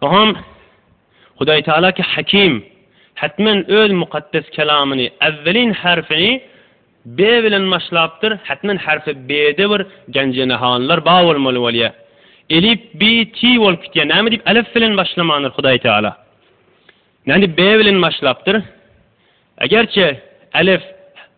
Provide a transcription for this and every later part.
Oňam Hudaý Tagala ki Hakim, hetmen Öz Mukaddes Kelamyny, äwwelin harfini be bilen başlapdyr, hetmen harfi bede bir gänjenehanlar ba bolmaly bolýa. Elip, bi, ti bolup gitýä, näme dip alef bilen başlamandyr Hudaý Tagala? Nädip be bilen başlapdyr? Egerçe alef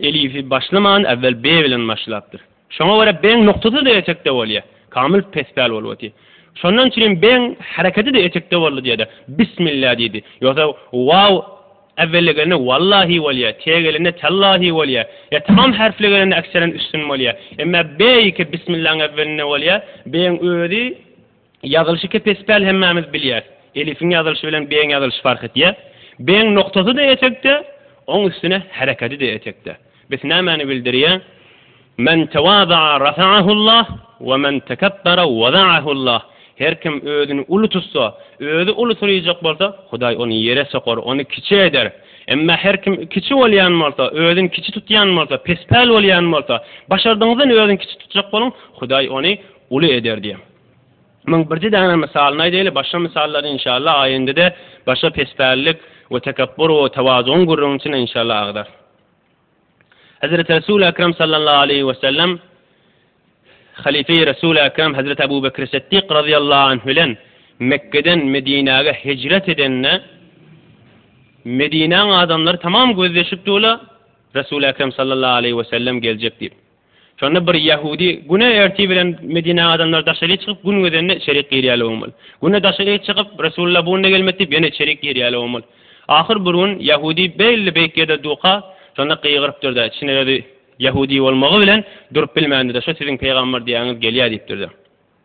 Elifi başlaman, äwwel be bilen başlapdyr. Şoňa görä beň noktasy-da etekde bolýa. Kamyl pespäl bolup otyr. Şondan üçin hem beň hereketi-de etekde boldy diýede, Bismillah diýdi. Ýogsa waw äwwellegelende wallahi bolýa, te gelende tällahi bolýa. Ýa tamam herfli gelende ekserin üstün bolýa. Emmä be ýeke bismillaň äwwelinde bolýa. Beň özi Ýazylyşy kepespäl hemmämiz bilýäs. Elifiň ýazylyşy bilen B-iň ýazylyşy fark etýär. B-iň noktasy-da etekde, oň üstüne herekedi-de etekde. Bis nämäni bildirýär? Men tewada'a rafa'ahullah we men tekebbere wada'ahullah. Her kim özüni uly tutsa, özi ulysyryjak bolsa, Hudaý ony ýere sokar, ony kiçi eder. Emma her kim kiçi bolýan bolsa, özüni kiçi tutýan bolsa, pespäl bolýan bolsa, başardygyňyzdan özüni kiçi tutjak boluň, Hudaý ony uly eder diýýär. Muň birji däne mysalyny aýdaýly, başga mysallar inşallah aýyndede başga pespälilik we tekepbur we tewazugyň gürrüňini içinde inşallah agzar. Hezreti Resul Ekrem sallallahu aleýhi we sellem Halife-i Resul Ekrem Hezreti Abu Bekr Siddik razyýallahu anh bilen Mekgeden Medinäge hijret edende Medinäň adamlary tamam gözleşipdi ola Resul Ekrem sallallahu aleýhi we sellem geljek diýip. Şonda bir ýahudy, Güne ertir bilen Medinäň adamlary daşaryk çykyp, gün gözende içerik girýärler bolmaly. Güne daşaryk çykyp, Resulullah bu günde gelmedi diýip, ýene içerik girýärler bolmaly. Ahyr bir gün ýahudy beýle beýik ýerde durka, şonda gygyrypdyr-da, içinden özi ýahudy bolmagy bilen durup bilmändir-de, Şu siziň pygamber diýýäňiz gelýär diýipdir-de.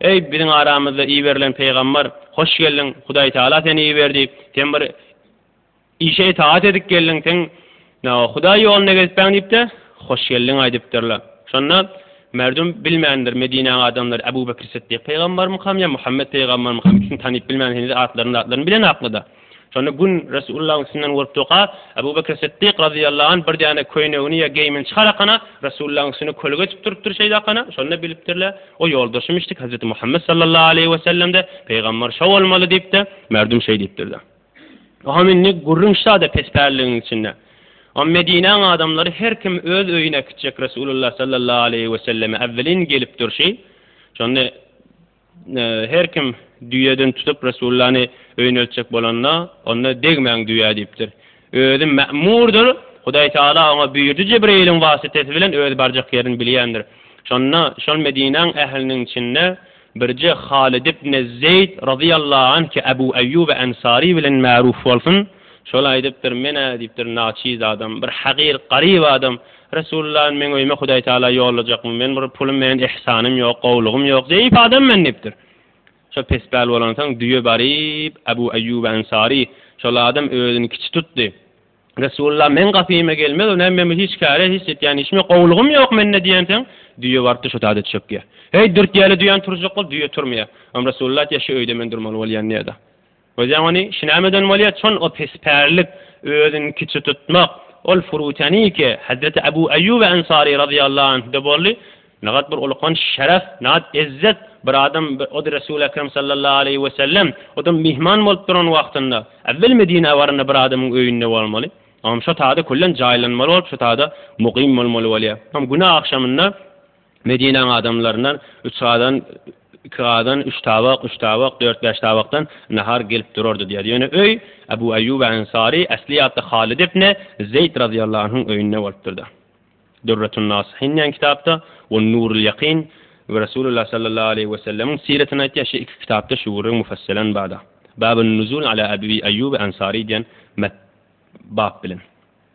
Eý, biziň aramyzda iberilen pygamber, hoş geldiň, Hudaý Tagala seni iberdi, sen bir işe itaat edip geldiň, sen Hudaý ýolunda gezipbäň diýip-de, hoş geldiň aýdypdyrlar. Şonda merdum bilmändir, Medinäň adamlary Äbu Bekr Sytdyk pygambermikam ýa Muhammet pygambermikam, ikisini tanyp bilmän, heniz atlaryny-zatlaryny bilen aklyda. Şonda gün Resulullahyň üstünden görüp durka, Ebu Bekr Siddik razyýallahu anh bir däne köýnegini ýa geýimini çykarakana, Resulullahyň üstüne köli geçip durupdyr şeýdakana, şonda bilipdirler, o ýoldaşymyşdyk Hezreti Muhammet sallallahu aleýhi we sellem-de, Pygamber şo bolmaly diýip-de, merdum şeý diýipdirler. Oňam indi gürrüň şada pespälligiň içinde. Oňam Medinäň adamlary her kim öz öýüne kitjek Resulullah sallallahu aleýhi we selleme äwwelin gelip durşy, şonda, Her kim düýeden tutup Resulllany öýneltjek bolanda, onda degmäň düýä diýipdir. Özi mämurdyr, Hudaý Tagala oňa buýurdy Jibreiliň wasytasy bilen özi barjak ýerini bilýändir. Şonda şol Medinäň ähliniň içinde birje Halid ibne Zeýd razyýallahu anh ki Abu Aýýuba Ansary bilen märuf bolsun, şol aýdypdyr, men-ä diýipdir naçiz adam, bir hagyr, garyp adam, Resulullan meň öýüme Hudaý Taala ýollajakmy? Men bir pulum menen ihsanym ýok, gowlugym ýok, zeýif adam men diýipdir. Şo pespäl bolansoň düýe baryp, Abu Aýýuba Ansary, şol adam özüni kiçi tutdy. Resulullan meň gapyma gelmez, o näme men hiç käre, hiç etýän işim ýok, gowlugym ýok mende diýensoň, düýe barypdyr şo taýda çökýär. Heý, dürtýäle düýäni turjak bol, düýe turmaýar. Am Resulullan aýtýar, şu öýde men durmaly bolýan diýýär-de. Özem ony şinämeden bolýa çon o pespärlik özüni kiçi tutmak ol furutaniki Hazreti Abu Ayyubi Ansari razyýallahu anhda boldy nagt bir ulkanç şeref nagt ezzet bir adam ody Resul Ekrem sallallahu aleýhi we sellem odam myhman bolup duran wagtynda äwwel Medinä baranda bir adamyň öýünde bolmaly onam şo tada köllen jaýlanmaly bolup şo tada mugym bolmaly bolýa onam güne agşamynda Medinäň adamlaryndan üç gazan, iki gazan, üç tabak, üç tabak, dört-bäş tabakdan nahar gelip durardy diýýär. Ýöne öý Abu Aýýuba Ensary äsli ýatda Halyt ibne Zeýd razyýallahu anhuň öýünde bolupdyrda. Dürretün Nasihin diýen kitapda we Nurul Ýakyn we Resulullah sallallahu aleýhi we sellemiň siretini aýtýar şi iki kitapda şu gürrüň mufasselen barda. Babun nuzul ala Abu Aýýuba Ensary diýen met bap bilen.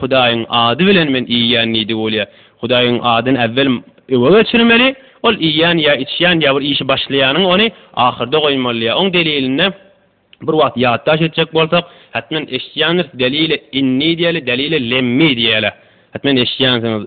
Hudaýyň ady bilen men iýýän nidigi bolýa. Hudaýyň adyny äwwel öňe geçirmeli, ol iýýän ýa içýän ýa bir işi başlaýanyň ony ahyrda goýmaly ýa oň delilini bir wagt ýatdaş etjek bolsak, hatmen eşitýändiris, delile inni diýeli, delile lemmi diýeli. Hatmen eşitýänsiňiz.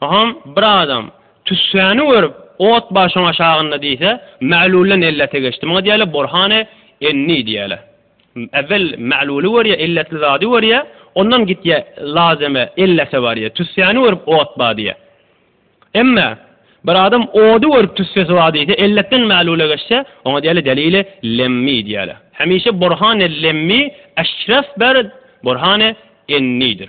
Agam, bir adam, tüssäni görüp, ot bar şoň aşagynda diýse, Mälulydan ellete geçdi. Muňa diýerler burhan-e enni diýerler. Äwwel Mäluly görýär, elletli zady görýär, ondan gitýär lazeme, ellete barýar. Tüssäni görüp ot bar diýýär. Emme, bir adam ody görüp tüssesi bar diýse, elletden Mälule geçse, oňa diýerler delili lemmi diýerler. Hemişe burhan-e lemmi eşrefber burhan-e ennidir.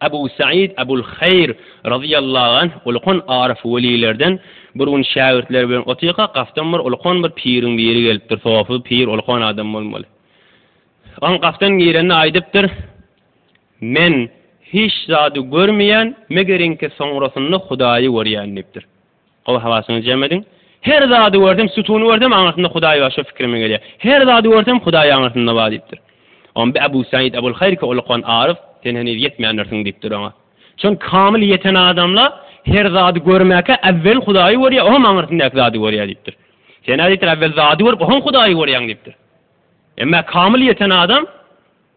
Abu Said Abul Haýr razyýallahu anh ulkan aryf welilerden, Bir gün şägirtleri bilen otyrka, gapdan bir ulkan bir piriň biri gelipdir, sofy pir ulkan adam bolmaly. Oň gapdan girende aýdypdyr, Men hiç zady görmeýän, megeriňki soňrasynda Hudaýy görýän diýipdir. Gowy hawasyňyzy jem ediň. Her zady görsem, sütuny görsem, aňyrsynda Hudaý bar, şo pikirime gelýär. Her zady görsem, Hudaý aňyrsynda bar diýipdir. Onda Abu Said Abul Haýrki Ulukan Aryf, Sen heniz ýetmändirsiň diýipdir oňa. Çünki kamyl ýeten adamlar her zady görmäkä äwwel Hudaýy görýär, oňam aňyrsyndaky zady görýär diýipdir. Sen-ä diýipdir, äwwel zady görüp, oňam Hudaýy görýäň diýipdir. Emma kamyl ýeten adam.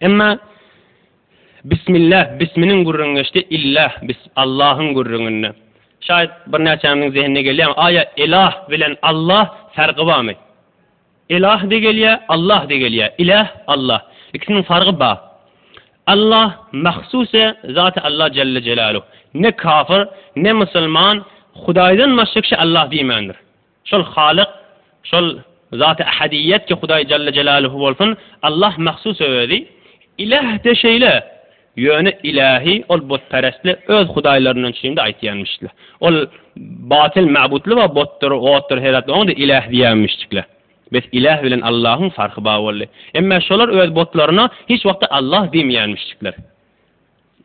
Emma Bismillah, bisminiň gürrüňi geçdi, Illah, bis, Allahyň gürrüňinde. Şaýat birnäçämiziň zehinine gelýämi, aýa Elah bilen Allah färgi barmy? Elah-de gelýär, Allah-de gelýär. Ilah, Allah. Ikisiniň fargy bar. Allah mahsusy Zaty Allah Jelle Jelaluh. Ne kafir, ne musulman Hudaýdan başga kişä Allah diýmändir. Şol Halyk, şol Zat-y Ahadiýýet ki Hudaý Jelle Jelaluhu bolsun, Allah mahsus Özi, Iläh-de şeýle, ýöne Ilähi ol butperestli öz hudaýlaryndan üçin-de aýtýanmyşdla. Ol batyl mabutly we butdyr, otdur heratly oňa-da Iläh diýýänmişdikle. Bes Iläh bilen Allahyň farky bar boldy. Emme şolar öz butlaryna hiç wagtda Allah diýmeýänmişdikler.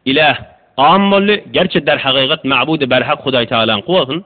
Iläh, am boldy, gerçi derhagygat mabud-i berhak Hudaýtagalaňky bolsun.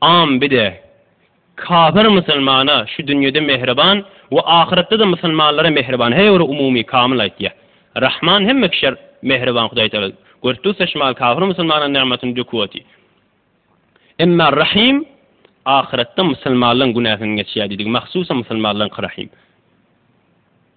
Am bide. Kafir musulmana şu dünýede mähriban we ahyretde-de musulmanlara mähriban her bir umumy kamyl aýtýar. Rahman hemme kişä mähriban Hudaýtagala. Gör dussa şmal kafir musulmana nygmatyny döküp otyr. Emma Rahym ahyretde musulmanlaryň günäsini geçýär diýdik. Mahsusam musulmanlaryňky Rahym.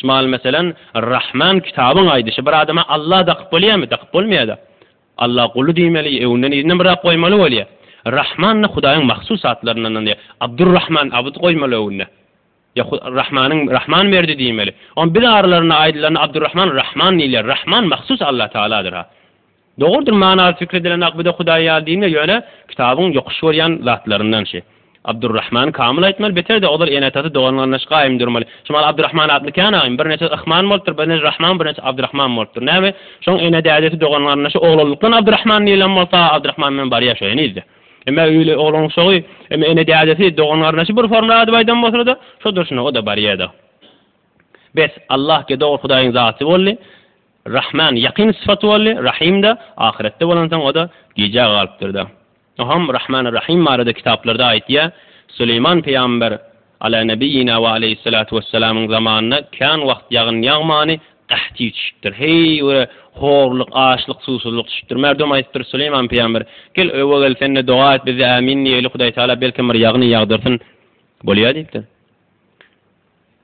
Şmal meselem, Rahman kitabyň aýdyşy bir adama Allah dakyp bolýamy? Dakyp bolmaýada. Allah guly diýmeli, öňünden yzyna myrat goýmaly bolýa. Rahman da Hudaýyň mahsus atlaryndandy. Abdurrahman, Abd goýmaly öňüne. Ýa Rahmanyň Rahman berdi diýmeli. Onda biz aralarynda aýdylanda Abdurrahman Rahman diýilýär. Rahman mahsus Allah Tagaladyr-ha. Dogrudyr manasy pikir edilen akbide Hudaý ýaly diýme ýöne kitabyň ýokuş görýän zatlaryndan şi. Abdurrahman kamyl aýtmaly beter-de olar ene-atasy dogan-garyndaş gaýym durmaly. Şu maly Abdurrahman atly kän agym bir neçesi Ahman bolupdyr bir neçesi Rahman bir neçesi Abdurrahman bolupdyr näme şoň ene dädesi dogan-garyndaşy oglanlykdan Abdurrahman diýilen bolsa Abdurrahman bilen barýa şo henizde. Emma öýli oglan şogy emma ene dädesi dogan-garyndaşy bir formly adyp aýdan bolsalarda şo durşuna oda barýada. Bes Allah ge dogry Hudaýyň zaty boldy. Rahman ýakyn sypaty boldy, Rahym-da, ahyretde bolansoň o-da gijä galypdyr-da. Oňam Rahman Rahym barada kitaplarda aýtýar, Süleýman pygamber, Ala nebiýina we aleýhissalatu wesselamyň zamanynda kän wagt ýagyn ýagmany, gaht ýitişipdir. Heý, göre, horluk, açlyk, suwsuzlyk düşüpdir. Merdum aýdypdyr, Süleýman pygamber, gel, öe gel, sen-de doga et, biz-de ämin diýeýli, Hudaýtagala belkem bir ýagyny ýagdyrsyn. Bolýar diýipdir.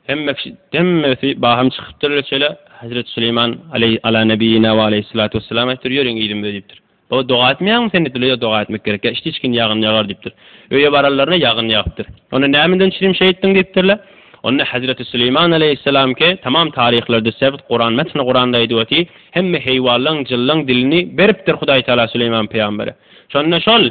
Hemmesi hemmesi bahym çykypdyr ile çele Hazreti Süleýman aleý ala nebiýina we aleýhissalatu wesselam aýdypdyr ýöriň ýedim we diýipdir. Baba doga etmeýäňmi sen diýipdir ýa doga etmek gerek ýa içdi içgin ýagyn ýagar diýipdir. Öýe baranlaryna ýagyn ýagypdyr. Onda nämeden çirim şeýtdiň diýipdirle. Onda Hazreti Süleýman aleýhissalam ki tamam taryhlarda sebt Kuran metni Kuranda aýdyp oty hemme heýwanlaň jynlaň dilini beripdir Hudaý taala Süleýman pygambere. Şonda şol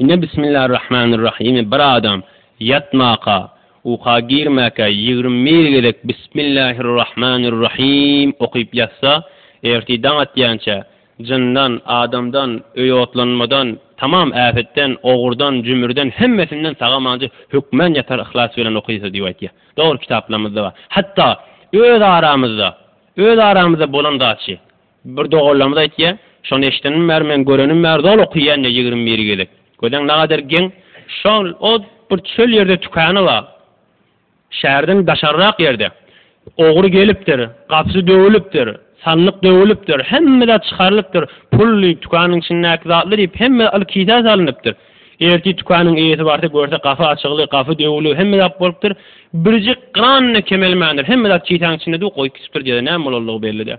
Ine Bismillarrahmanirrahymy bir adam ýatmaka, uka girmäkä ýigrimi bir gezek Bismillahirrahmanirrahyym okyp ýatsa, ertir daň atýança, jyndan, adamdan, öý otlanmadan, tamam äpetden, ogurdan, jümürden, hemmesinden sag-amanca hökmän ýatar yhlas bilen okylsa diýip aýtýar. Dogry kitaplarymyzda bar. Hatda öz aramyzda, öz aramyzda bolan zatçy. Bir doganlarymyz aýtýar, Şony eşidenim bäri, men görenim bäri zol okaýan-da ýigrimi bir gezek. Gözäň nagadyr geň, şol ot bir çöl ýerde tükany bar. Şäherden daşaryrak ýerde. Ogry gelipdir, gapysy döwülipdir, sandyk döwülipdir, hemme zat çykarylypdyr, pul diýip, tükanyň içindäki zatlar diýip, hemme zat kisä salnypdyr. Ertir tükanyň eýesi barsa, görse gapy açykly, gapy döwüli, hemme zat bolupdyr. Birjik gran-da kemelmändir, hemme zat kisäň içinde durup, goýup gitipdir, diýýär-de, näme bolandygy belli däl.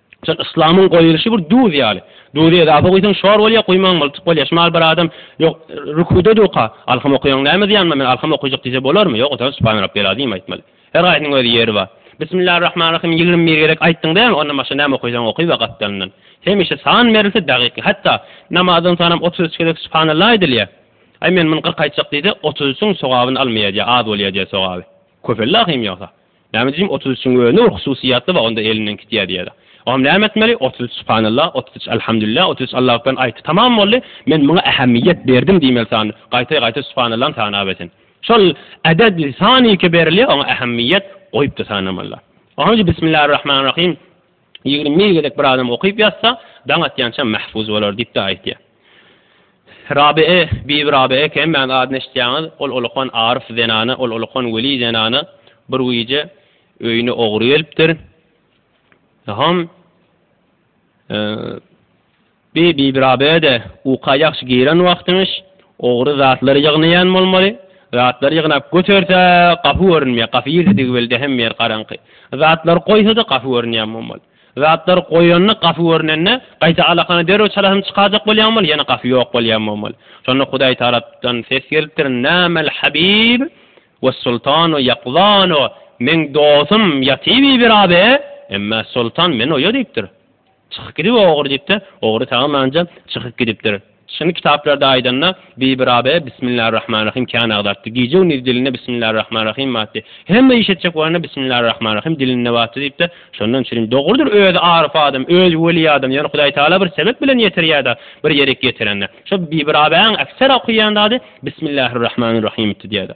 Şol yslamyň goýulyşy bir duz ýaly. Duzy edafa guýsaň şor bolýar, guýmaň mylçyk bolýar. Şmal bir adam ýok, rüküde durka, Alhym okaýaň näme zyýanma, men alhym okajak diýse bolarmy? Ýok, otaryp Subhan Rabbil Azim aýtmaly. Her haýsynyň öz ýeri bar. Bismillah Rahman Rahym ýigrimi bir gezek aýtdyň diýäň, ondan başga näme okaýsaň oky we gapdalyndan. Hemişe san berilse dagyk, hatda namazdan soňam otuz üç gezek Subhanallah aýdylýar. Aý men muny kyrk aýtjak diýse, otuz üçüň sogabyny almaýar diýär, az bolýar diýär sogaby. Köpeldi ahym ýogsa. Näme diýjim otuz üçiň özi nur hususyýetli we onda elinden gitýä diýeli. Oňam näme etmeli otuz üç subhanallah otuz üç alhamdulillah otuz üç Allah ekber aýt tamam boldy men muňa ähemmiýet berdim diýmeli sany gaýta gaýta subhanallany sanap esen şol äded sanike berilýä oňa ähemmiýet goýupda sanamalylar. Oňam bismillarrahmanrahim. Ýigrimi gezek bir adam okyp ýatsa, daň atýança mähfuz bolar diýip-de aýtýar. Rabyýa, bibi Rabyýa Kemmäň adyny eşitýäňiz, ol ulukan aryf zenana, ol ulukan weli zenana bir gije öýüne ogry gelipdir. Hom, Bi Bibirabede uka ýagşy giren wagtymyş, ogry zatlar ýygnaýan bolmaly. Zatlar ýygnap göterse, gapy görünmeýär. Gapy girdidigi belli hem ýer garaňky. Zatlary goýsa-da gapy görünýän bolmaly. Zatlary goýanda gapy görnende, gaýta alakany derrew çalasym çykajak bolýan bolmaly, ýene gapy ýok bolýan bolmaly. Şonda Hudaý tarapdan ses gelipdir, Nämäl Habib we Sultanu ýakzanu, Meň dostum ýaty Bibirabe, emma Sultan menoýa diýipdir. Çykyp gidip ogry diýipdir. Ogry sagamanja çykyp gidipdir. Çyny kitaplarda aýdanda Bibi Rabyýa Bismillarrahmanrahym kän agdartdy. Gije-gündiz dilinde Bismillarrahmanrahym batdy. Hemme iş etjek bolanda Bismillarrahmanrahym dilinde batdy diýipdir. Şondan çürin dogrudyr özi aryf adam, özi weli adam, ýöne Hudaý Tagala bir sebep bilen ýetirýär-de, bir ýerik ýetirende. Şo Bibi Rabyýanyň ekser okaýan zady Bismillarrahmanrahymydy diýýär-de.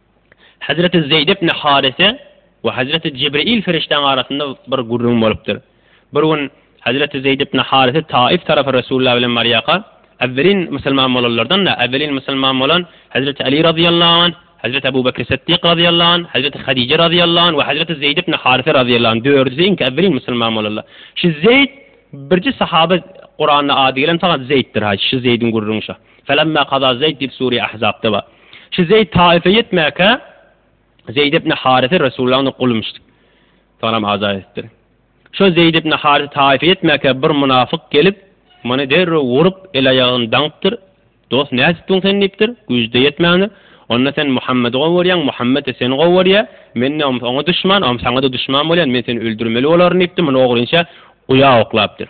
Hezreti Zeýd ibn Harise we hezreti Jibril perişdäň arasynda bir gürrüň bolupdyr. Bir gün hezreti Zeýd ibn Harise Taif tarapa Resulullah bilen barýarka, Äwwelin musulman bolanlardan-da, äwwelin musulman bolan hezreti Aly razyýallahu anh, hezreti Abu Bekri Siddik razyýallahu anh, hezreti Hadije razyýallahu anh we hezreti Zeýd ibn Harise razyýallahu anh, dördüsi iňki äwwelin musulman bolanlar. Şu Zeýd birji sahaba Kuranda ady gelen fagad Zeýddir-ha, şu Zeýdiň gürrüňi şo. Felemma kaza Zeýd diýip sure Ahzabda bar. Şu Zeýd Taýyfa ýetmäkä Zeýd ibn Harise Resulullahyň gulymyşdy. Soňam azat edipdir. Şo Zeýd ibn Harise Taýyfa ýetmäkä bir munafyk gelip, muny derrew urup, el-aýagyny daňypdyr. Dost, nädipdiň sen diýipdir. Güýjde ýetmändir. Onda sen Muhammedi gowy görýäň, Muhammet-de seni gowy görýä. Men-de oňa duşman, oňa saňa-da duşman bolýan. Men seni öldürmeli bolaryn diýipdir. Muny ogrynça guýa oklapdyr.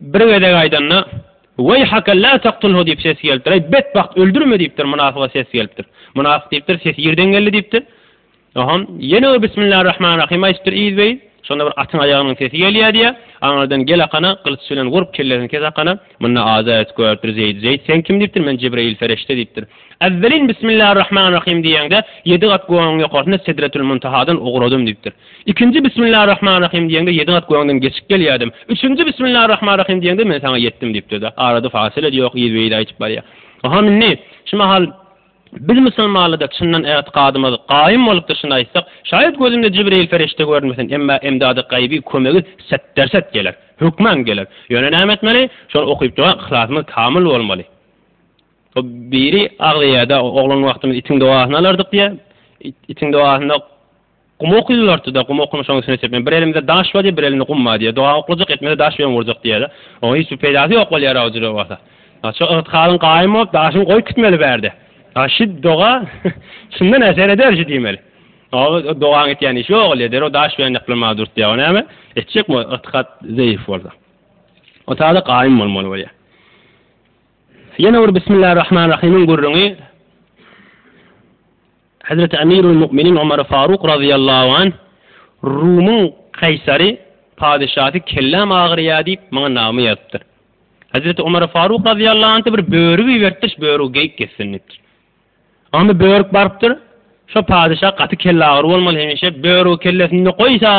Bir gezek aýdanda, Weýhake la taktulhu diýip ses gelipdir. Eý, betbagt, öldürme diýipdir, mynasyga ses gelipdir. Mynasyk diýipdir, Ses ýerden geldi diýipdir. Oham, ýene bir Bismillar rahman rahym aýdypdyr yzbeýin. Şonda bir atyň aýagynyň sesi gelýär diýýär. Aňyrdan gel akana, gylyç bilen urup, kellesini kes akana. Munda aza edip görüpdir Zeýdi. Zeýd, sen kim diýipdir, men Jibreýil pereşde diýipdir. Äwwelin Bismillar rahman rahym diýeňde, ýedi gat gögüň ýokarsynda Sedretül Muntahadan ugradym diýipdir. Ikinji Bismillarrahmanrahim diýeňde ýediň at göwüňden geçip gelýärdim. Üçünji Bismillarrahmanrahim diýeňde men saňa ýetdim diýipdir de, arada fasylet ýok, yzbe-yz aýdyp barýar. Aham indi, şu mahal biz musulmanlyda çyndan ätikadymyz gaýym bolupdyr şuny aýtsak, şaýat gözümde Jibreýil perişde görmesin, emma emdady gaýyby kömegi setderset geler, hökman geler. Ýöne näme etmeli? Şony okyp doga yhlasymyz kamyl bolmaly. O biri agzaýarda oglan wagtymyz itiň dogasyny alardyk diýýär. Itiň dogasynda Gum okylardy-da, gum okynyşyň üstüne çepme, bir elimde daş bar diýýär, bir elimde gum bar diýýär. Doga oklajak, etmede daş bilen urjak diýýär-de. Oňa hiç bir peýdasy ýok bolýar-a o jüre bolsa. A şo ygtykadyň gaýym bolup, daşyny goýup gitmeli bärde. A şi doga şundan äşgär eder şi diýmeli. A o dogaň etýän işi ýok, ol eder, o daş bilen ýaklanmaga dürtýär. O näme etjek bu ygtykat zeýif bolsa. O tada gaýym bolmaly bolýar. Ýene bir Bismillah Rahman Rahimiň gürrüňi. Hezreti Emirul Mu'minin Omar Faruk razyýallahu anh Rumyň kaýsary, padyşasy, kelläm agyrýar diýip, maňa nagma ýazypdyr. Hezreti Omar Faruk razyýallahu anh-da bir börügi iberipdir, şu börügi geýip gezsin diýipdir. Onda börük barypdyr, Şo padyşa gaty kellagyry bolmaly hemişe, börügi kellesinde goýsa,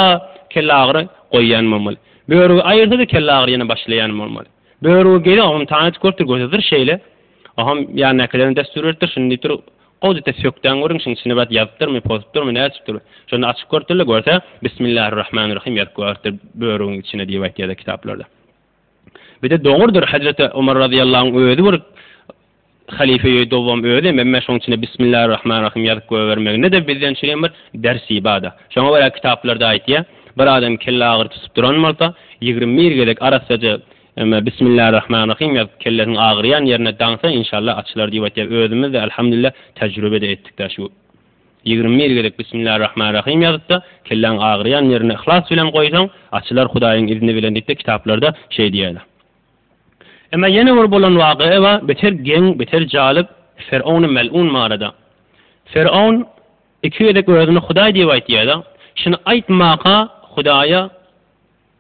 kellagyry goýýan bolmaly. Börügi aýyrsa-da kellagyry ýene başlaýan bolmaly. Börügi geýse, ogluny tanydyp görüpdir, gözi zyr şeýle. Ogam ýandakylaryna dessur beripdir, şuny diýipdir, Gowjete sökdäň görüň şuň içine bat ýazypdyrmy pozupdyrmy nätipdir şony açyp görüpdirle görse Bismillah Rahman Rahim ýazyp goýartdyr börügiň içine diýip aýtýada kitaplarda. Bide dogurdyr Hajreti Omar Razyýallahuň özi bir Halife ýe dowam özem emme şuň içine Bismillah Rahman Rahim ýazyp goýbermeginede bizden şunem bir ders ibada. Şoňa görä kitaplarda aýtýa bir adam kelle agyry tutup duran bolsa ýigrimi bir gezek arassaja Emma Bismillarrahmanrahim ýazyp kellesiň agyrýan ýerine daňsa inşallah açylar diýip aýtýar. Özümizde Alhamdulillah tejrübede etdikdä şu ýigrimi bir gezek Bismillarrahmanrahim ýazypda kelläň agyrýan ýerine yhlas bilen goýsaň açylar Hudaýyň izni bilen diýipde kitaplarda şeý diýýärler. Emma ýene bir bolan wagya bar beter geň beter jalyp Ferowny melun barada. Ferown iki gezek özüni Hudaý diýip aýtýada şuny aýtmaka Hudaýa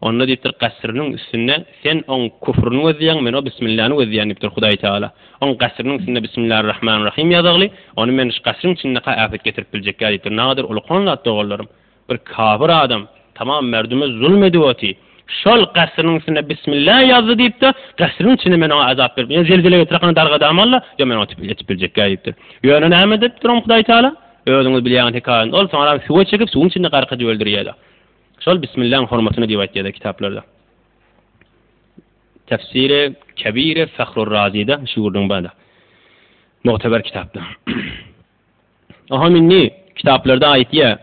Onda diýipdir, Gasyrynyň üstünde sen oň küfrüni gözleýäň, men o Bismillany gözleýän diýipdir Hudaý Tagala. Oň gasyrynyň üstünde Bismillar Rahman Rahym ýazagly, ony men şu gasyryň içindeka äpet getirip biljekkä diýipdir. Nagadyr ulukan zat doganlarym. Bir kafir adam tamam merdüme zulum edip oty. Şol gasyrynyň üstünde Bismillah ýazdy diýipde, gasyryň içinde men oňa azap berip, ýa zelzele getirerkana dargadamalla, ýa men oňa ýetip biljekkä diýipdir. Ýöne näme edipdir oň Hudaý Tagala? Özüňiz bilýäňiz hekaýany. Ol soňaram suwa çekip, suwuň içinde gark edip öldürýärdi. Şol Bismillaň hormatyna diýip aýtýarlar kitaplarda. Tefsiri Kebiri Fahru Razida şu ýurduň bada. Muhteber kitapda. Oha minni kitaplarda aýtýa.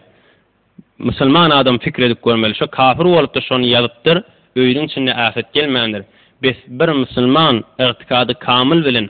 Musulman adam fikir edip görmeli. Şo kafir bolupdyr, şony ýazypdyr. Öýüniň içinde ähet gelmändir. Bes bir musulman ygtykady kamyl bilen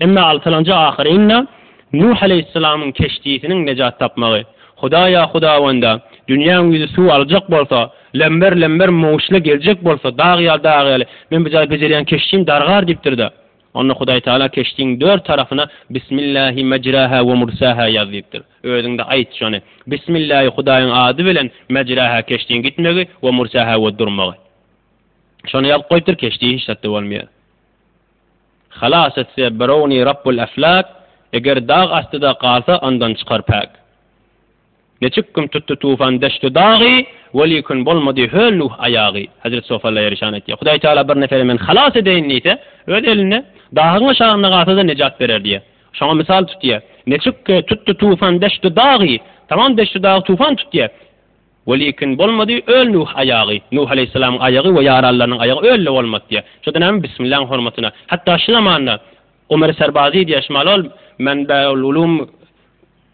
Emma altylanja ahyrynda Nuh aleýhissalamyň keşdisiniň nejat tapmagy, Hudaýa Hudawanda, dünýäň ýüzi suw aljak bolsa, lember-lember möwçle geljek bolsa, dag ýaly dag ýaly, men bu jaý bejerýän keşdim dargar diýipdir-de, onda Hudaý Tagala keşdiň dört tarapyna Bismillahi mejraha we mursaha ýaz diýipdir. Özüň-de aýt şony, Bismillahi Hudaýyň ady bilen mejraha keşdiň gitmegi we mursaha we durmagy. Şony ýazyp goýupdyr, keşdi hiç zatda bolmaýar. Halas etse birowny Rabbul Eflak, Eger dag astyda galsa, ondan çykar päk. Neçik gün tutdy tufan deştu dagy, Welikün bolmady höl Nuh aýagy. Hezreti Sof Allaýereşan aýtýar, Hudaý Tagala bir neferi men halas edeýin diýse, Öz elinde, dahyň aşagynda galsa-da nejat berer diýýär. Şoňa mysal tutýar, Neçik tutdy tufan deştu dagy, Tamam deştu dagy tufan tutýar. Welikin bolmady, öl Nuh aýagy, Nuh aleýhissalamyň aýagy we ýaranlarynyň aýagy öl-le bolmady diýýär. Şo-da näme, Bismillaň hormatyna. Hatda şu zamanda Omer Serbazi diýýär, Şimalol Menbeul Ulum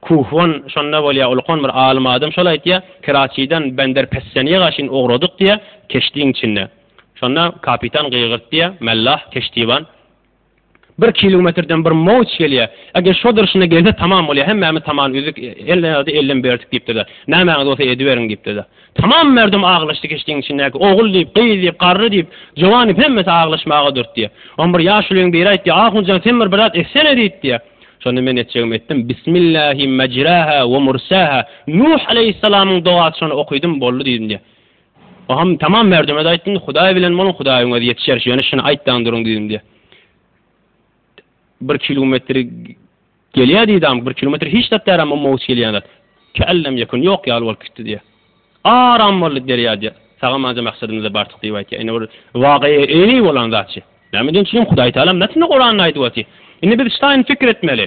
Kuhwan şonda bolýar, ulkan bir alym adam şol aýtýar, Keraçiden Bender Pessenýega çyn ugradyk diýýär, keşdiň içinde. Şonda kapitan gygyrt diýýär, Mellah, keştiban. Bir kilometrden bir mowç gelýär. Eger şo durşuna gelse tamam bolýar. Hemmämiz tamam üzük, elden ýa-da elden berdik diýipdir-de. Nämäňiz bolsa ediberiň diýipdir-de. Tamam merdum aglaşdy keşdiň içindäki. Ogul diýip, gyz diýip, garry diýip, jowan diýip hemmesi aglaşmaga durdy. Oň bir ýaşulyň biri aýtdy, Ahun jan sen bir birzat etsene diýdi. Şonda men etjegimi etdim. Bismillähi mejraha we mursaha. Nuh aleýhissalamyň dogasy şony okydym boldy diýdim. Agam tamam merdumez aýtdyn hudaý bilen boluň hudaýyň özi ýetişer ýöne şuny aýtdaň duruň düýbinde bir kilometr gelýär diýdi agam bir kilometr hiç zat däl amma mowç gelýän zat källem ýekun ýok ýaly bolup gitdi diýýär aram boldy derýa diýýär sagam anja maksadymyza bardyk diýip aýtýar ine bir wakaýa eýni bolan zatçy näme diýen üçinem hudaý tagalam nätsin guranynda aýdyp otyr indi biz şaýyny pikir etmeli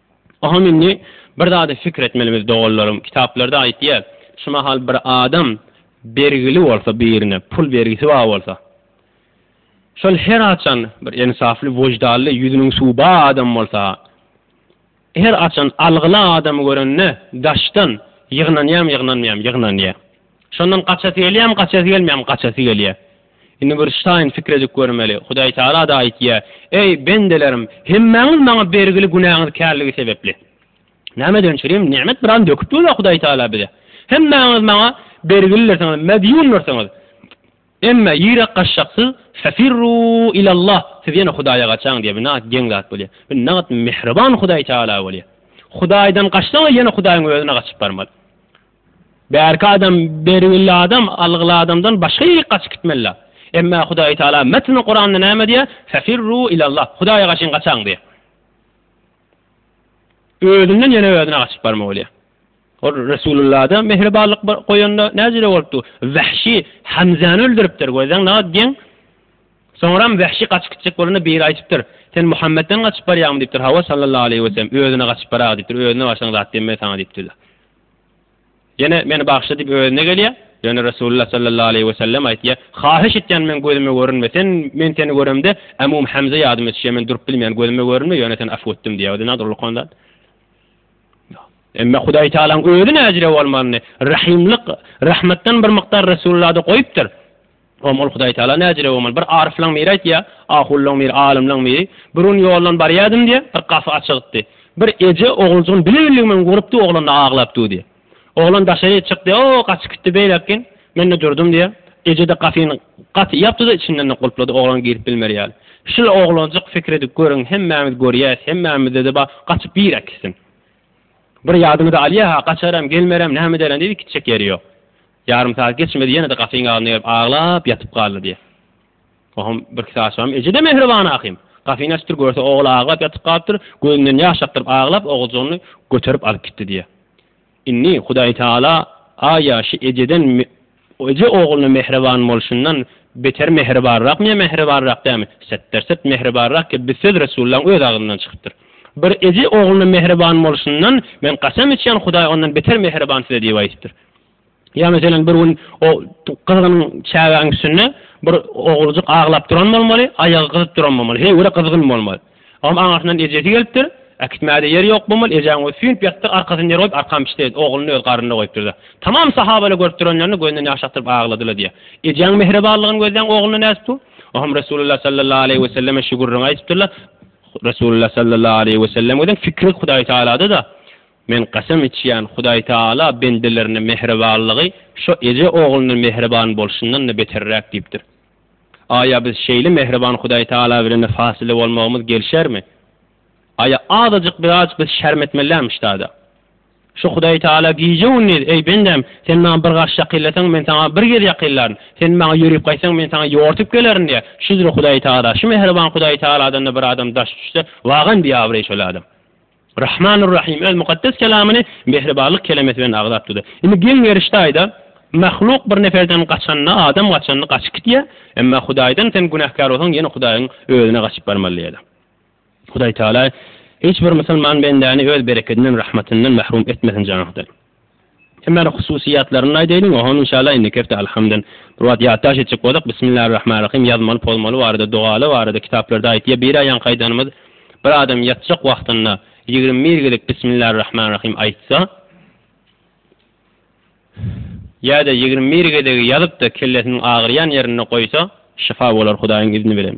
Oňa indi bir zady pikir etmelimiz doganlarym, kitaplarda aýtýar, şu mahal bir adam bergili bolsa birine, pul bergisi bar bolsa, şol her haçan bir ensafly, wyždally, ýüzüniň suwy bar adam bolsa, her haçan algyly adamy görende daşdan ýygnanýam ýygnanmaýam ýygnanýar. Şondan gaçasy gelýärmi, gaçasy gelmeýärmi? Gaçasy gelýär. Indi bir şaýyn pikir edip görmeli. Hudaý Tagala-da aýtýar, Eý, bendelerim, hemmäňiz maňa bergili günäňiz kärligi sebäpli. Näme ederin, çürim nemet biraz döküp dur-a Hudaý Tagala bize. Hemmäňiz maňa bergilidirsiňiz, medýundyrsňyz. Emme, ýürek gaçjaksyz, fefirru ilallah, siz ýene Hudaýa gaçaň diýýär. Bu nähak geň zat bolýar. Bu nähak mähriban Hudaý Tagala bolýar. Hudaýdan gaçsaň-a ýene Hudaýyň özüne gaçyp barmaly. Bärki adam bergili adam algyly adamdan başga ýerik gaçyp gitmelidä. Emma Hudaýy Taala metni Kuranda näme diýýär? Fefirru ilallah, Hudaýa gaçyň gaçaň diýýär. Özünden ýene özüne gaçyp barma bolýar. Ol Resululada mähribanlyk goýanda näjele bolupdy? Wahşy Hamzany öldüripdir, görseň nagat geň. Soňram Wahşy gaçyp gitjek bolanda biri aýdypdyr, Sen Muhammetden gaçyp barýaňmy diýipdir, Hawa sallallahu aleýhi weselem, özüne gaçyp baraga diýipdir, özüne barsaň zat demme saňa diýipdir. Ýene meni bagyşla diýip özüne gelýär. Ýöne Resulullah sallallahu aleýhi we sellem aýtýar, Haýyş etýän meň gözüme görünme, sen men seni göremde Amum Hamza ýadyma düşýär, men durup bilmeýän gözüme görünme, ýöne sen afw etdim diýýär. Özüne nadyr ulukan zat. Emma Hudaý Taalaň özi näjire bolmalyny, rahymlyk, rahmatdan bir mukdar Resulullahda goýupdyr. Oňa ol Hudaýtagala näjire bolmaly? Bir aryflaň biri aýtýar, ahunlaň biri, alymlaň biri, Bir gün ýoldan barýardym diýýär, bir gapy açygypdy. Bir eje oguljygyny bile-billigim bilen urupdy, oglan-da aglap dur diýýär. Oglan daşaryk çykdy, O, gaçyp gitdi beýläk gün. Men-de durdum diýýär. Eje-de gapyny gaty ýapdy-da, içinden-de gulplady, oglan girip bilmer ýaly. Şul oglanjyk pikir edip görüň, hemmämiz görýäs, hemmämizde-de bar, gaçyp birek gitsin. Bir ýadyňyza alýa-ha, gaçaram, gelmerem, näme ederem diýip, iki çek ýeri ýok. Ýarym sagat geçmedi ýene-de gapyň agzynda gelip aglap ýatyp galdy diýýär. Oňam birki sagat soňam eje-de mähriban ahym. Gapyny açypdyr görse ogly aglap ýatyp galypdyr, gözünden ýaş akdyryp aglap oguljygyny göterip alyp gitdi diýýär. Indi Hudaýtagala a ýaşy ejeden eje ogluna mähriban bolşundan beter mähribanrakmy ýa mähribanrak dälmi? Setderset mähribanrak ki bi söz Resullaň öz agzyndan çykypdyr. Bir eje ogluna mähriban bolşundan men kasam içýän Hudaý ondan beter mähriban size diýip aýdypdyr. Ýa meselem bir gün o gyzgynyň çägäniň üstünde bir oguljyk aglap duran bolmaly, aýagy gyzyp duran bolmaly, heý görä gyzgyn bolmaly. Olam aňyrsyndan ejesi gelipdir, äkitmäge-de ýeri ýok bolmaly, ejeň özi süýnüp ýatypdyr, arkasyny ýere goýup, arkan biçdi, ogluny öz garnynda goýupdyr-da. Tamam sahabalar görüp duranlaryna gözünden ýaş akdyryp agladylar diýýär. Ejeň mähribanlygyny gözleýän ogluna nädip bu? Olam Resulullah sallallahu aleýhi we selleme şu gürrüňi aýdypdyrlar. Resulullah sallallahu aleýhi we sellem özüň fikri Hudaý Tagalada-da, Men kasam içýän, Hudaýtagala bendelerine mähribanlygy şo eje ogluna mähriban bolşundan-da beterräk diýipdir. Aýa biz şeýle mähriban Hudaýtagala bilen-de fasyly bolmagymyz gelişermi? Aýa azajyk biraz biz şerm etmeliämişdada? Şo Hudaýtagala gije-gündiz, Eý, bendäm, sen maňa bir gaş ýakynlasaň, men saňa bir gez ýakynlaryn, sen maňa ýörüp gaýtsaň, men saňa ýortup gelerin diýýä. Şüdür Hudaýtagala, şu mähriban Hudaýtagaladan-da bir adam daş düşse, wagam biabraý şol adam. Rahmanur Rahym öz mukaddes kelamyny mähribanlyk kelemesi bilen agzap durdy. Indi geň gerişde aýda, Mahluk bir neferden gaçanda adam gaçanda gaçyp gitýä, emma Hudaýdan sen günäkär bolsaň ýene Hudaýyň özüne gaçyp barmaly diýýäler. Hudaý Teala hiç bir musulman bendäni öz berekedinden, rahmatyndan mahrum etmesin janahdan. Emma hususyýatlaryny aýdaýlyň ohan inşallah indiki hepde alhamdyn bir wagt ýatdaş etjek bolsak Bismillarrahmanrahym ýazmaly pozmaly barada dogaly barada kitaplarda aýtýa bir aýaňky aýdanymyz bir adam ýatjak wagtynda ýigrimi bir gezek Bismillarrahmanrahym aýtsa ýada ýigrimi bir gezegi ýazypda kellesiniň agyrýan ýerinde goýsa şyfa bolar hudaýyň izni bilen.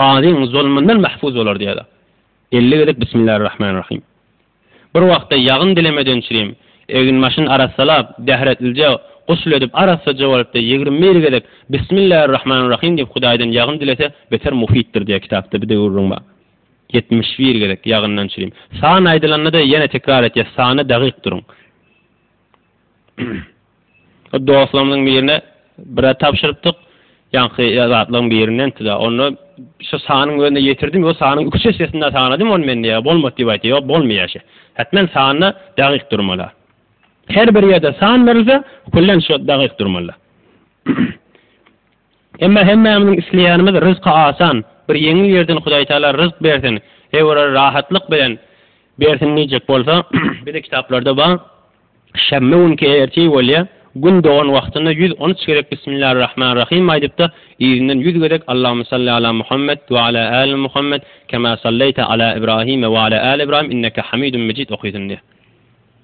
gazyň zulmundan mahfuz bolar diýýärler. Elli gezek Bismillarrahmanrahim. Bir wagtda ýagyn dilemeden çirim, egin-başyny arassalap, bähretlije gusl edip arassaja bolupdy, ýigrimi bir gezek Bismillarrahmanrahim diýip Hudaýdan ýagyn dilese beter mufitdir diýýär kitapda bir döwürüň bar. Ýetmiş bir gezek ýagyndan çirim. San aýdylanda-da ýene tekrar etýär, sany dagyk duruň. Dostlarymyzyň birine bire tabşyrypdyk. Ýaňky zatlaryň birinden tüda. Onda şu sanyň özüne ýetirdim. Ýo sanyň üç esesinde sanadym ony men diýýär. Bolmady diýip aýtýar. Ýok bolmaýar şe. Hetmen sanda dagyk durmala. Her bir ýerde san berilse, küllen şo dagyk durmala. Emma hemmämiziň isleýänimiz ryzky asan, bir ýeňil ýerden Hudaýtagala ryzk bersin, ew-ra rahatlyk bilen bersin diýjek bolsa, bize kitaplarda bar, Şenbe günki ertir bolýar, gün dogan wagtynda ýüz on üç gezek Bismillarrahmanrahim aýdyp-da, yzyndan ýüz gezek Allahumma salli ala Muhammed we ala äli Muhammed kema sallaýta ala Ibrahime we ala äli Ibrahim inneke Hamidun Mejid okaýsyn diýýär.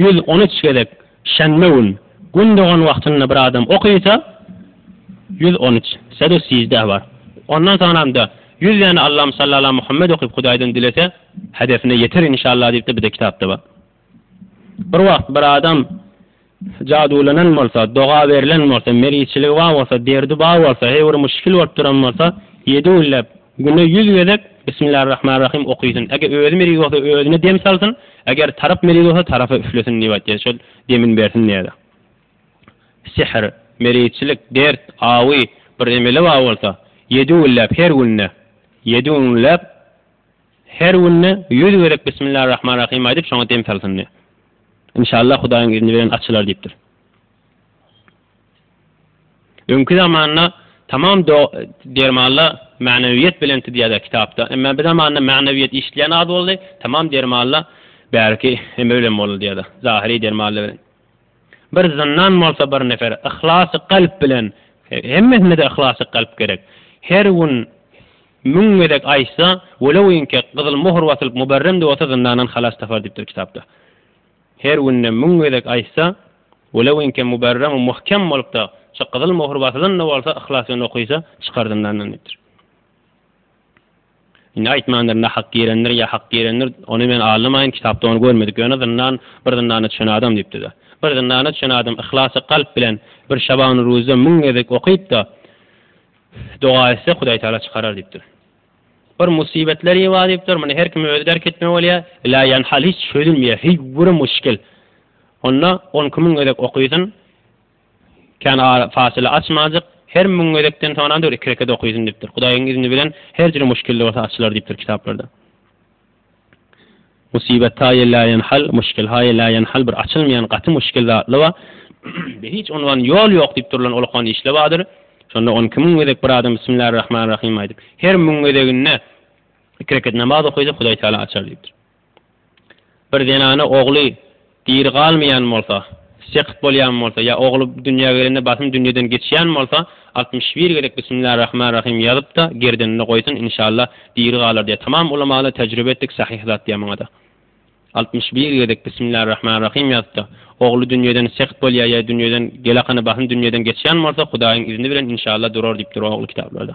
ýüz on üç gezek şenbe gün gün dogan wagtynda bir adam okysa, ýüz on üç, sedu siždeh bar. Ondan soňramda ýüz däne Allam salli ala Muhammed okyp Hudaýdan dilese, hedefine ýeter inşallah diýip-de bir-de kitapda bar. Bir wagt bir adam. Jadulanan bolsa, doga berlen bolsa, meriçiligi bar bolsa, derdi bar bolsa, heý bir muşkil bolup duran bolsa, ýedi günläp, güne ýüz gezek Bismillarrahmanrahym okysyn. Eger özi meriz bolsa, özüne dem salsyn, eger tarap meriz bolsa, tarapa üflesin diýip aýtýar. Şol demini bersin diýýärler. Sihr, meriçilik, dert, awy, bir emeli bar bolsa, ýedi günläp, her günde, ýedi günläp Her günde ýüz gezek Bismillarrahmanrahim aýdyp şoňa dem salsyn diýýär. Inşallah Hudaýyň izni bilen açylar diýipdir. Öňki zamanda tamam dermanlar Magnawiýet belenti diýýärler kitapda. Emma bi zamanda Magnawiýet eşidilýän az boldy, tamam dermanlar bärki eme bilen boldy diýýärler. Zahyry dermanlar bilen. Bir zyndan bolsa bir nefer yhlasy kalp bilen, hemmesinde-de yhlasy kalp gerek, her gün müň gezek aýtsa, welew inkä gyzyl möhür basylyp muberrem-de bolsa zyndandan halas tapar diýipdir kitapda. Her günde müň gezek aýtsa, welew inkä muberrem we muhkem bolup-da, şo gyzyl möhür basylan-da bolsa, yhlas bilen okysa, çykar zyndandan diýipdir. Indi aýtmandyr, nahak girendir ýa hak girendir, ony men aňlamaýyn, kitapda ony görmedik, ýöne zyndan, bir zyndana çüşen adam diýipdi-de. Bir zyndana çüşen adam yhlasy kalp bilen bir Şabany Ruzda müň gezek okyp-da, doga etse, Hudaýtagala çykarar diýipdir. Bir musibetleri bar diýipdir, muny her kime özi därk etmeli bolýar, ila ýan hal hiç çözülmeýär, heý bir muşkil. Onda on iki müň gezek okysyn. Kän ara, fasyla açmanjyk, her müň gezekden soňam bir iki rekat okysyn diýipdir. Hudaýyň izni bilen her jür muşkilde bolsa açylar diýipdir kitaplarda. Musibat taýy la ýenhal, muşkil haýy la ýenhal bir açylmaýan gaty muşkil zatly ba, be hiç unwan ýol ýok diýip durulan ol okan işle badyr. Şonda on iki müň gezek bir adam Bismillarrahmanrahym aýdyp, her müň gezeginde iki rekat namaz okysa Hudaý Taala açar diýipdir. Bir zenana ogly diri galmaýan bolsa, sekht bolýan bolsa ýa ogly dünýä gelende basym dünýeden geçýän bolsa, altmyş bir gezek Bismillah Rahman Rahym ýazyp-da, gerdenine goýsun, inşallah, diri galar diýýär. Tamam ulamalar tejribe etdik, sahyh zat diýýär muňa-da. Altmyş bir gezek Bismillah Rahman Rahym ýazyp-da, ogly dünýeden sekht bolýar ýa dünýeden gelakany basym dünýeden geçýän bolsa, Hudaýyň izni bilen, inşallah, durar diýipdir ogly kitaplarda.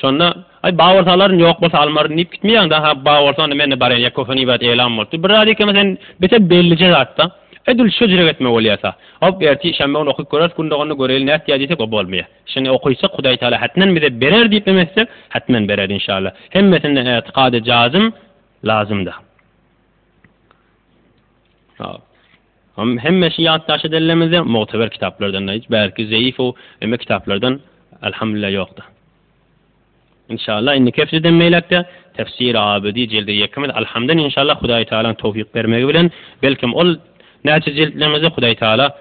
Şonda, Aý, bar bolsa alaryn, ýok bolsa almaryn diýip gitmeýäň-dä, ha, bar bolsa onda men-de barýan, ýa kösen ibrat eýläm bolupdyr. Bir zat ýekemäň sen bete bellije zat-da, edil şo jire gitme bolýa-sa. Hop, ertir şenbe güni okyp göreris, gündogarynda göreli nätýär diýsek, o bolmaýar. Şeýle okuysak, Hudaý Tagala hätmen bize berer diýip ümit etsek, hätmen berer, inşalla. Hemmesinden ätikady jazym, lazym-da. Hop. Hemme şu ýatdaşy dellemizde mugteber kitaplardan-da hiç bärki zeýifow emme kitaplardan Alhamdulillah ýokda. Inşallah indiki hepdeden beýläkde Tefsiri Abidi jildi ýekimiz Alhamdan inşallah Hudaý Tagalaň towfyk bermegi bilen belkem ol näçe jiltlemizde Hudaý Tagala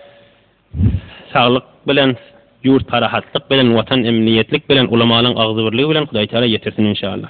saglyk bilen ýurt parahatlyk bilen watan emniýetlik bilen ulamalaň agzybirligi bilen Hudaý Tagala ýetirsin inşallah.